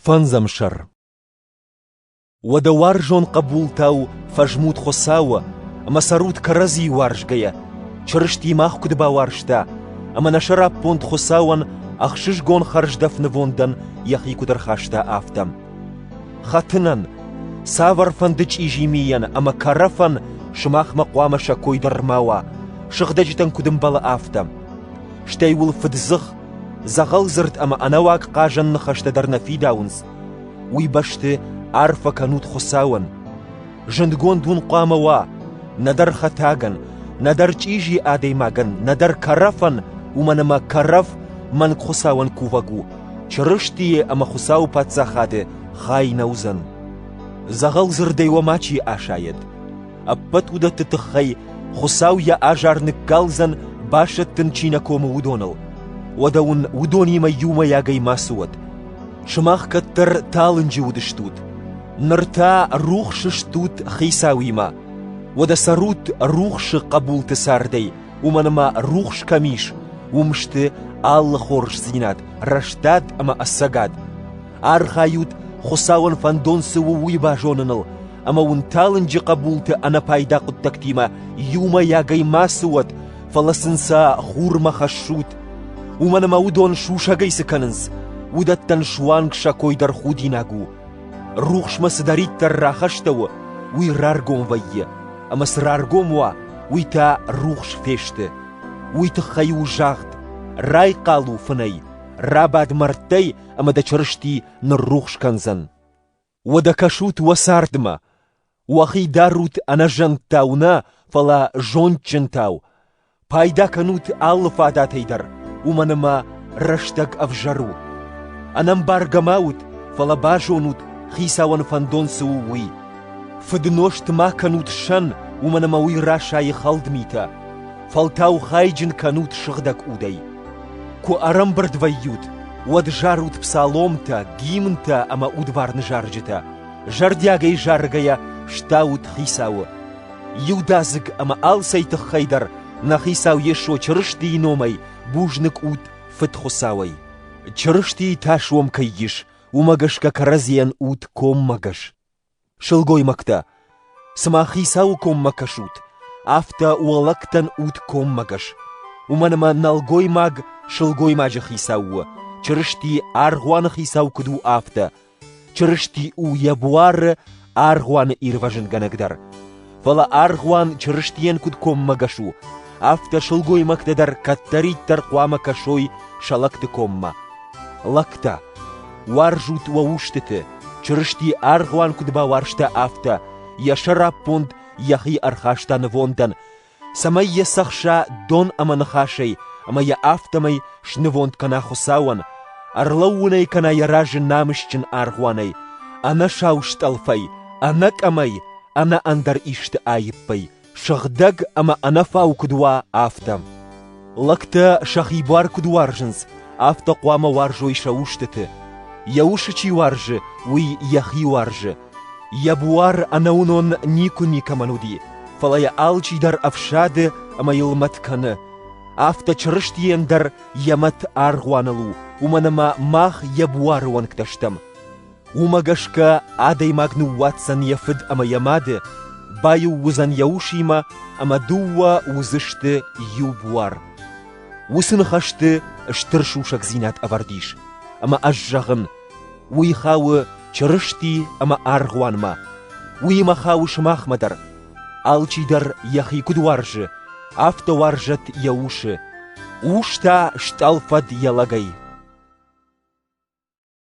Фӕндзӕмсӕр. Уӕдӕ уарзон хъӕбултау фӕзмут Хуыцауы ӕмӕ цӕрут кӕрӕдзи уарзгӕйӕ, Чырысти мах куыд бауарзта, ӕмӕ нӕ сӕраппонд Хуыцауӕн ӕхсызгон хӕрздӕф нывондӕн йӕхи куыд ӕрхаста, афтӕ. Хӕтынӕн, цавӕрфӕнды чъизи мийӕн ӕмӕ кӕрӕфӕн сымахмӕ хъуамӕ сӕ кой дӕр ма уа, сыгъдӕджытӕн куыд ӕмбӕлы, афтӕ. Стӕй уыл фыддзых Дзӕгъӕлдзырд ӕмӕ ӕнӕуаг хъазӕн ныхӕстӕ дӕр нӕ фидауынц. Уый бӕсты арфӕ кӕнут Хуыцауӕн. Зындгонд уын хъуамӕ уа, нӕдӕр хӕтӕгӕн, нӕдӕр чъизи адӕймагӕн, нӕдӕр кӕрӕфӕн, уымӕн ӕмӕ кӕрӕф мӕнгхуыцауӕн кувӕг у, Чырыстийы ӕмӕ Хуыцауы Паддзахады хай нӕ уыдзӕн. Дзӕгъӕлдзырдӕй уӕ мачи асайӕд. ӕппӕт уыдӕтты тыххӕй Хуыцау йӕ азар ныккалдзӕн, басӕттын чи нӕ комы, уыдоныл. Уӕдӕ уын уыдонимӕ иумӕйагӕй мацы уӕд. Сымах кӕддӕр талынджы уыдыстут, ныр та рухс стут Хицауимӕ. Уӕдӕ цӕрут рухсы хъӕбулты цардӕй, уымӕн ӕмӕ рухс кӕм ис, уым сты алы хорздзинад, рӕстад ӕмӕ ӕцӕгад, Архайут, Хуыцауӕн фӕндон цы у, уый базоныныл, ӕмӕ уын талынджы хъӕбулты ӕнӕпайда хъуыддӕгтимӕ иумӕйагӕй мацы уӕт, фӕлӕ сын сӕ хурмӕ хӕссут. Уымӕн ӕмӕ уыдон сусӕгӕй цы кӕнынц, уыдӕттӕн суанг сӕ кой дӕр худинаг у. Рухсмӕ цыдӕриддӕр рахӕстӕ у, уый раргом вӕййы, ӕмӕ цы раргом уа, уый та рухс фесты. Уый тыххӕй у загъд: «Райхъал у фынӕй, рабад мӕрдтӕй, ӕма дӕ Чырысти ниррухс кӕндзӕн. Уодӕ кӕсут уӕ цардмӕ, уӕхи дарут ӕнӕзӕнттау нӕ, фалӕ зондджынтау, пайда кӕнут алы фадатӕй дӕр, уомӕн ӕма рӕстӕг ӕвзӕр у. Ӕнӕмбаргӕ ма ут, фалӕ базонут, Хицауӕн фӕндон цы у, уый. Фыднозт ма кӕнут сӕн, уомӕн ӕма уый расайы хӕлд митӕ. Фӕлтау хайджын кӕнут сыгъдӕг удӕй. Куы ӕрӕмбырд вӕййут, уӕд зарут псаломтӕ, гимнтӕ ӕмӕ удварны зарджытӕ. Зӕрдиагӕй заргӕйӕ стаут Хицауы. Иудадзыг ӕмӕ алцӕй тыххӕй дӕр нӕ Хицау Йесо Чырыстийы номӕй бузныг ут Фыдхуыцауӕй. Чырыстийы тас уӕм кӕй ис, уымӕ гӕсгӕ кӕрӕдзийӕн ут коммӕгӕс. Сылгоймӕгтӕ, цыма хицауы коммӕ кӕсут, афтӕ уӕлӕгтӕн ут коммӕгӕс. Уымӕн ӕмӕ нӕлгоймаг сылгоймаджы хицау у, Чырысти аргъуаны хицау куыд у, афтӕ. Чырысти у йӕ буары аргъуаны ирвӕзынгӕнӕг дӕр. фӕлӕ аргъуан Чырыстийӕн куыд коммӕгӕс у, афтӕ сылгоймӕгтӕ дӕр кӕддӕриддӕр хъуамӕ кӕсой сӕлӕгты коммӕ. Лӕгтӕ, уарзут уӕ устыты, Чырысти аргъуан куыд бауарзта, афтӕ йӕ сӕраппонд йӕхи ӕрхаста нывондӕн, цӕмӕй йӕ цӕхса дон ӕмӕ ныхасӕй, ӕмӕ йӕ афтӕмӕй снывонд кӕна Хуыцауӕн, ӕрлӕууын ӕй кӕна йӕ разы намысджын аргъуанӕй, ӕнӕ сау стъӕлфӕй, ӕнӕ къӕмӕй, ӕнӕ ӕндӕр исты аиппӕй, сыгъдӕг ӕмӕ ӕнӕфау куыд уа, афтӕ. Лӕгтӕ сӕхи буар куыд уарзынц, афтӕ хъуамӕ уарзой сӕ устыты. Йӕ усы чи уарзы, уый йӕхи уарзы. Йӕ буар ӕнӕуынон никуы никӕмӕн уыди, фӕлӕ йӕ алчи дӕр ӕфсады ӕмӕ йыл мӕт кӕны. Афтӕ Чырыстийӕн дӕр йӕ мӕт аргъуаныл у, уымӕн ӕмӕ мах йӕ буары уӕнгтӕ стӕм. Уымӕ гӕсгӕ адӕймаг ныууадздзӕн йӕ фыд ӕмӕ йӕ мады, баиу уыдзӕн йӕ усимӕ ӕмӕ дыууӕ уыдзысты иу буар. Уыцы ныхӕсты стыр сусӕгдзинад ӕвӕрд ис, ӕмӕ ӕз зӕгъын, уый хауы Чырысти ӕмӕ аргъуанмӕ, уыимӕ хауы сымахмӕ дӕр. Алчи дӕр йӕхи куыд уарзы, афтӕ уарзӕт йӕ усы. Ус та стъӕлфӕд йӕ лӕгӕй.